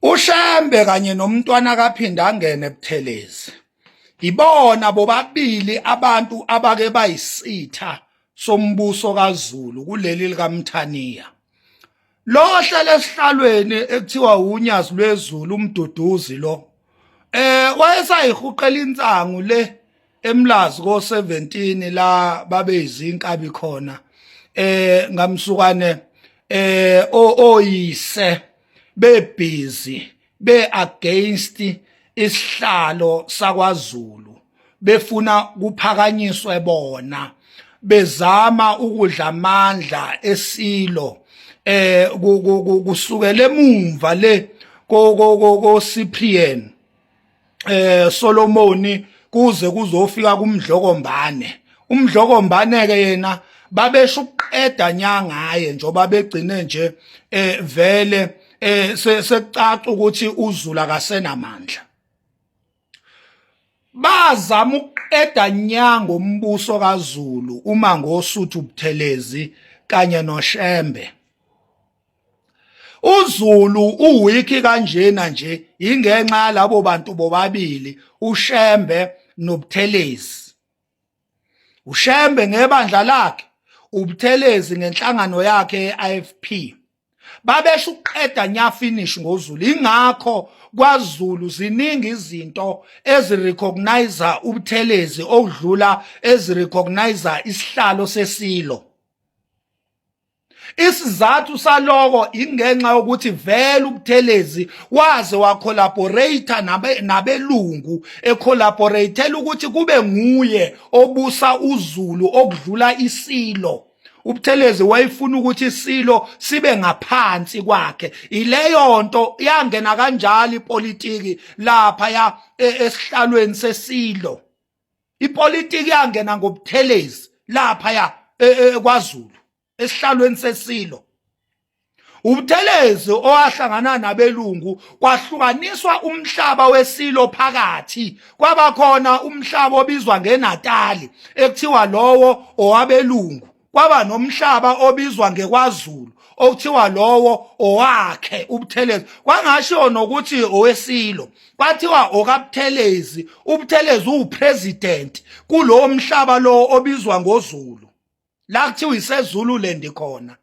uShembe kanye nomntwana kaphinde angene ebuthelezi ibona bobabili abantu abake bayisitha sombuso kaZulu kuleli likaMthaniya lohla lesihlalweni ekuthiwa unyazi lwezulu umduduzi lo eh wayesayihuqela insangu le eMlazi ko 17 la babe izinkabi khona eh ngamsukane eh oyise bebhizi be against isihlalo sakwaZulu befuna kuphakanyiswe bona bezama ukudla amandla esilo eh kusukela emumva le ko ko ko Cyprian eh Solomoni kuze kuzofika kumdlokombane umdlokombane ke yena babesho ukuqeda nyangaye njoba begcine nje eh vele eh sekucaca ukuthi uzulu akasenamandla bazama ukuqeda nyango umbuso kaZulu uma ngosuthu Buthelezi kanye noShembe uZulu uwiki kanjena nje ingenxa yalabo bantu bobabili uShembe noButhelezi uShembe ngebandla lakhe uButhelezi ngenhlangano yakhe ye-IFP babesho ukuqeda nya finish ngozulu ingakho kwaZulu ziningi izinto ezirecognize uButhelezi okudlula ezirecognize isihlalo sesilo Isizathu saloko ingenxa yokuthi vele uButhelezi waze wacollaborate nabe nabelungu ecollaboratela ukuthi kube nguye obusa uZulu okudlula isilo uButhelezi wayefuna ukuthi isilo sibe ngaphansi kwakhe ileyo nto yangena kanjalo ipolitiki lapha ya e, esihlalweni sesilo ipolitiki yangena ngobuthelezi lapha ya e, e, e, kwaZulu esihlalweni sesilo ubuthelezi owahlangana nabelungu kwahlukaniswa umhlaba wesilo phakathi kwabakhona umhlaba obizwa ngenatali ekuthiwa lowo owabelungu kwaba nomhlaba obizwa ngekwaZulu okuthiwa lowo owakhe ubuthelezi kwangasho nokuthi owesilo kwathiwa okabuthelezi ubuthelezi uwupresident kulowo mhlaba lowo obizwa ngozulu la kuthiwa isezulu lendi khona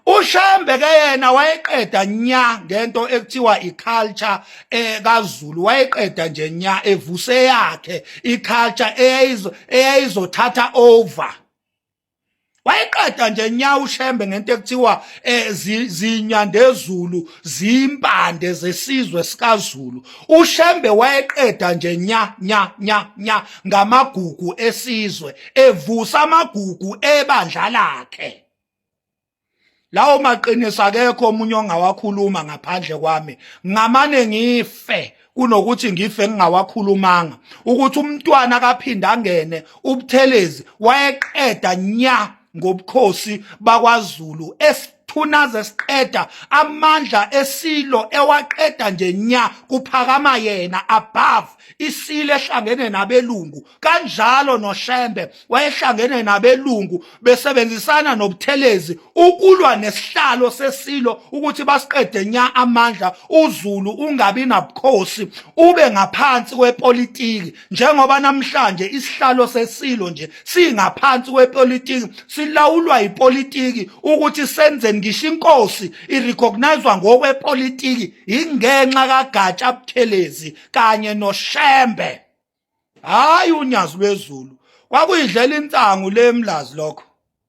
uShembe ke yena wayeqeda nya ngento ekuthiwa iculture ekaZulu eh, wayeqeda nje nya evuse yakhe iculture eyayizo eyayizothatha over wayeqeda nje nya ushembe ngento ekuthiwa eh, zinyandezulu zimpande zesizwe sikaZulu uShembe wayeqeda nje nya nya nya nya ngamagugu esizwe evusa amagugu ebandla lakhe lawo maqiniso akekho omunye ongawakhuluma ngaphandle kwami ngamane ngife kunokuthi ngife ngingawakhulumanga ukuthi umntwana akaphinde angene ubuthelezi wayeqeda nya ngobukhosi bakwaZulu esithunaza esiqeda amandla esilo ewaqeda nje nya kuphakama yena above isilo ehlangene nabelungu kanjalo noShembe wayehlangene nabelungu besebenzisana nobuthelezi ukulwa nesihlalo sesilo ukuthi basiqede nya amandla uZulu ungabi nabukhosi ube ngaphansi kwepolitiki njengoba namhlanje isihlalo sesilo nje singaphansi kwepolitiki silawulwa yipolitiki ukuthi senzeni ngisho inkosi irecognizwa ngokwepolitiki ingenxa kagatsha buthelezi kanye noshembe hayi unyazi lwezulu kwakuyidlela insangu lemlazi lokho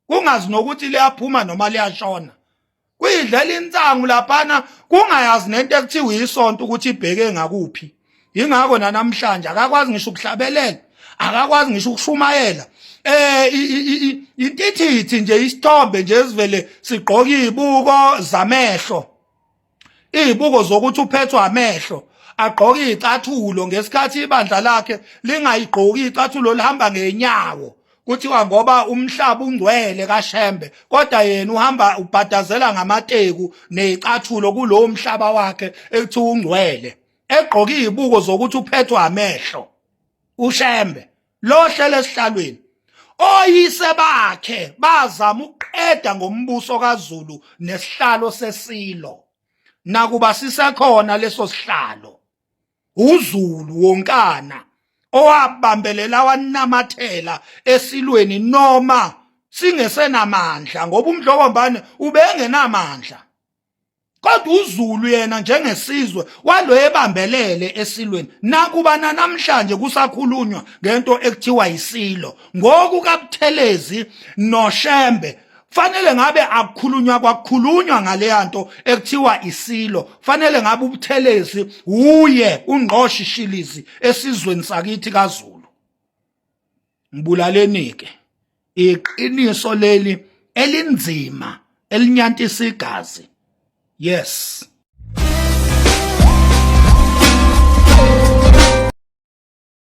kungazi nokuthi liyaphuma noma liyashona kuyidlela insangu laphana kungayazi nento ekuthiwa isonto ukuthi ibheke ngakuphi ingakho nanamhlanje akakwazi ngisho ukuhlabelela akakwazi ngisho ukushumayela eh intithithi nje isithombe nje esivele sigqoka izibuko zamehlo izibuko zokuthi uphethwa amehlo agqoke izicathulo ngesikhathi ibandla lakhe lingayigqoki icathulo lihamba ngenyawo kuthiwa ngoba umhlaba ungcwele kaShembe kodwa yena uhamba ubhadazela ngamateku nezicathulo kulowo mhlaba wakhe ekuthiwa ungcwele egqoke izibuko zokuthi uphethwa amehlo uShembe lohlele esihlalweni oyise bakhe bazama ukuqeda ngombuso kaZulu nesihlalo sesilo nakuba sisekhona leso sihlalo uZulu wonkana owabambelela wanamathela esilweni noma singesenamandla ngoba umdlokombane ubengenamandla kodwa uZulu yena njengesizwe walo ebambelele esilweni nakuba namhlanje kusakhulunywa ngento ekuthiwa isilo ngoku kaButhelezi noShembe fanele ngabe akukhulunywa kwakukhulunywa ngaleya nto ekuthiwa isilo fanele ngabe ubuthelezi wuye ungqoshishilizi esizweni sakithi kaZulu ngibulalenike iqiniso leli elinzima elinyantisa igazi yes